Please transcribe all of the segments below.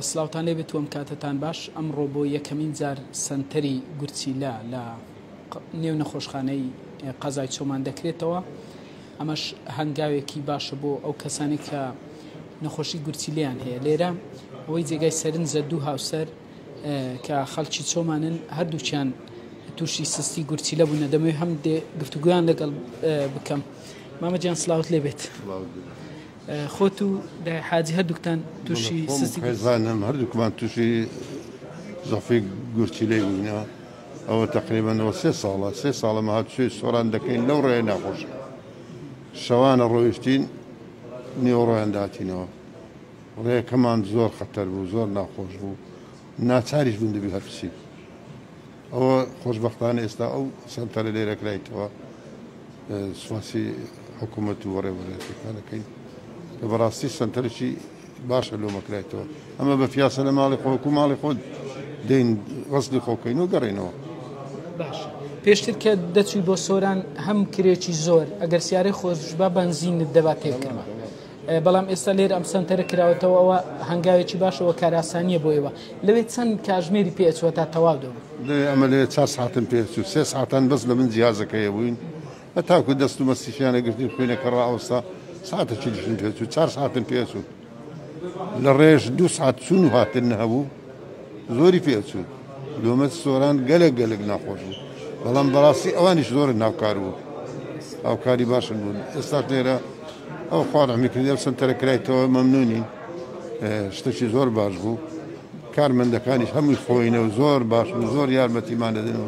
سلاوتان لێ بێتوەم کاتتان باش ئەمڕۆ بۆ یەکەمین جار سنتەری گورچیلا لە نێو نەخۆشخانەی قەزای چۆمان دەکرێتەوە ئەمەش هەنگاوێکی باشە بۆ ئەو کەسانی کە نەخۆشی گورچیلیان هەیە لێرە ئەوەی جێگای سەرنجە دوو هاوسەر کە خەڵکی چۆمانن هەردووچیان تووشی سستی گورچی لە بوونە دەمەوێت هەم گفتوگویان لەگەڵ بکەم مامەجیان سلااوت لێ بێت خۆت و دای حاجی هەردووکتان تووشی سستی گورچیلە بوون؟ خێزانم هەردووکمان تووشی زەعفی گورچیلەی بووینە، ئەوە تەقریبەن ئەوە سێ ساڵە، سێ ساڵە ئەمە هاتوچۆی سۆران دەکەین لەو ڕێیە ناخۆشە، شەوانە ڕۆیشتین نیوەڕۆیان دەهاتینەوە، ڕێکەمان زۆر خەتەر بوو، زۆر ناخۆش بوو، ناچاریش بووین دەبی هەر بچین. ئەوە خۆشبەختانە ئێستا ئەو سەنتەرە لێرە کرایتەوە، سوپاسی حکومەت و بەڕێوەبەرایەتیەکان دەکەین کە بەڕاستی سەنتەرێکی باشە لۆمە کرایتەوە، ئەمە بە پیاسە لە ماڵی خۆ وەکو ماڵی خۆت دێین غەسلی خۆ کەین و گەڕێینەوە. باشە پێشتر کە دەچوی بۆ سۆران هەم کرێکی زۆر ئەگەر سیارەی خۆتبا بەنزینت دەبا تێبکەمە. بەڵام ئێستا لێرە ئەم سەنتەرە کراوەتەوە ئەوە هەنگاوێکی باشە وە کاراسانیە بۆ ئێوە لەوێ چەند کاژمێری پێ ئەچوە تا تەواو دەبن لێ ئەمە لێ چوار ساعتم پێ چوو سێ ساعتان بەس لە من جیازەکە هەبووین هەتاکو دەست و مەستیشیانە گرتین خوێنەکە ڕائەوەستا ساعتەکی دیکەم پێ چوو چوار ساعتم پێ چوو لە ڕێش دوو ساعت چوون و هاتن هەبوو زۆری پێ ئەچوو لۆمەت سۆران گەلەک گەلەک ناخۆش بوو بەڵام بەڕاستی ئەوانیش زۆر ناوکار بوون هاوکاری باشن بوون ئێستاش لێرە ئەو خوا ڕەحمی کردی ئەو سەنتەرە کرایتەوە مەمنونین شتەکی زۆر باش بوو کارمەندەکانیش هەمووی خۆینە و زۆر باش و زۆر یارمەتیمان دەدن و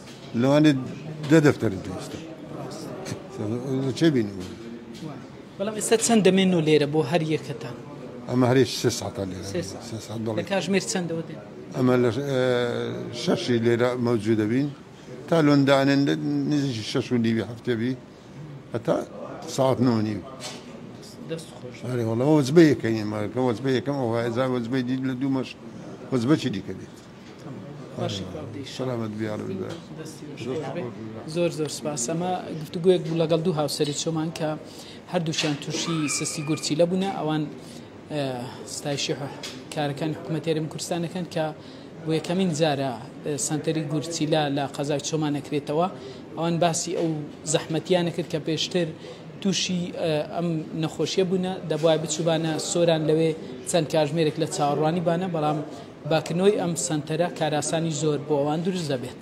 لەوانێ دە دەفتەر دروستە چێ بین بەڵام ئێستا چەند دەمێن و لێرە بۆ هەر یەکەتان ئەمە هەرێ سێ ساعتان لێرە کاژمێر چەندەوە دێن ئەمە لە شەشی لێرە مەوجود دەبین تا لۆندانێن نزیکی شەش و نیوی هەفتێبی هەتا ساعت نۆ نیو هەرێوەڵەوە وەزبە یەکەین مارکە وەزبە یەکەم ئەوە هەزار وەزبەی دیت لە دوو مەش وەزبەچی دیکە دێت باشی کاکە سەلامەت بیاڕ بە زۆر زۆر سپاس ئەمە گفتوگوێک بوو لەگەڵ دوو هاوسری چۆمان کە هەردووشیان تووشی سستی گورچی لە بوونە ئەوان ستایشی کارەکان حکوومەتێرم کوردستانەکەن کە بۆ یەکەمین جارە سنتەری گورچیلا لە قەزای چۆمانەکرێتەوە ئەوان باسی ئەو زەحمەتیانە کرد کە پێشتر تووشی ئەم نەخۆشیە بوونە دەبواە بچوبانە سۆران لەوێ چەند کاژمێرێک لە چاوەڕوانی بانە بەڵام بە کنۆی ئەم سەنتەرە کاراسانی زۆر بۆ ئەوان دروست دەبێت.